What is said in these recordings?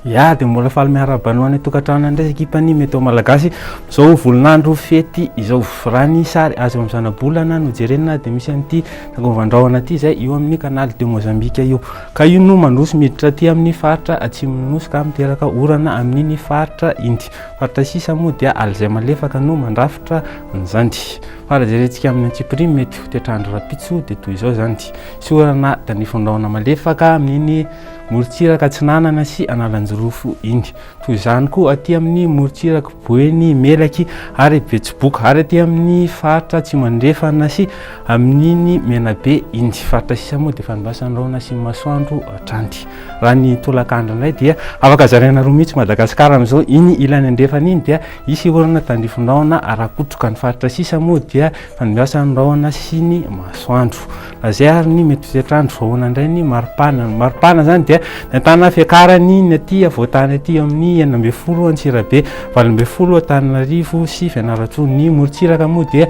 Ya dia mbola faly miarahaba anao any tokantrano indray ekipany Meteo Malagasy. Izao volinandro fety izao raha ny sary azo amin'ny zanabolana no jerena dia misy an'ity tsangovan-drahona ity izay io amin'ny canal de Mozambique io. Ka io no mandroso miditra aty amin'ny faritra atsimon'ny nosy ka miteraka orana amin'iny faritra iny. Fa taisisa moa dia alzay malefaka no mandrafitra an'izany. Fa raha jerentsika amin'ny antsipiriany mety ho toetr'andro rahampitso dia toy izao izany, tsy orana dia ny fondrahona malefaka amin'iny morontsiraka atsinanana sy analanjirofo iny. Toy izany koa aty amin'ny morontsiraky boeny melaky ary betsiboka ary aty amin'ny faritra atsimo andrefana sy amin'iny menabe iny. Faritra sisa moa dia efa andrasan'ny rahona sy ny masoandro hatrany. Raha ny tolakandro indray dia afaka zaraina roa mihitsy Madagasikara amin'izao. Iny ilany andrefana iny dia hisy orana tandrifindrahona ara-kotroka. Ny faritra sisa moa dia fanimbiasan'ny rahona sy ny masoandro. Izay ary ny mety toetr'andro. Ahoana indray ny maripana? Ny maripana izany dia ny an-tanana fiakarany ny aty afovoan-tany aty eo amin'ny enina ambin'ny folo Antsirabe, valo ambin'ny folo Antananarivo sy Fianarantsoa. Ny morontsiraka moa dia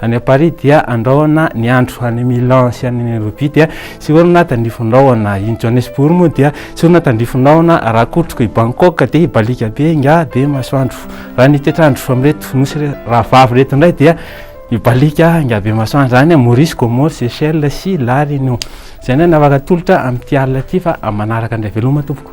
Any à Paris dia andrahona ny andro, any Milan sy any Nairobi dia tsy orina tandrifon-drahona, i Johannesburg moa dia tsy orina tandrifon-drahona, raha kotriko i Bangkok dia hibalika be nga be masoandro, raha ny toetr'andro amin'ireto nosy rahavavy ireto indray dia hibalika nga be masoandro, any à Maurice, Comores, Seychelles sy La Réunion. Izay indray ny afaka atolotra amin'ity alina ity fa manaraka indray veloma tompoko.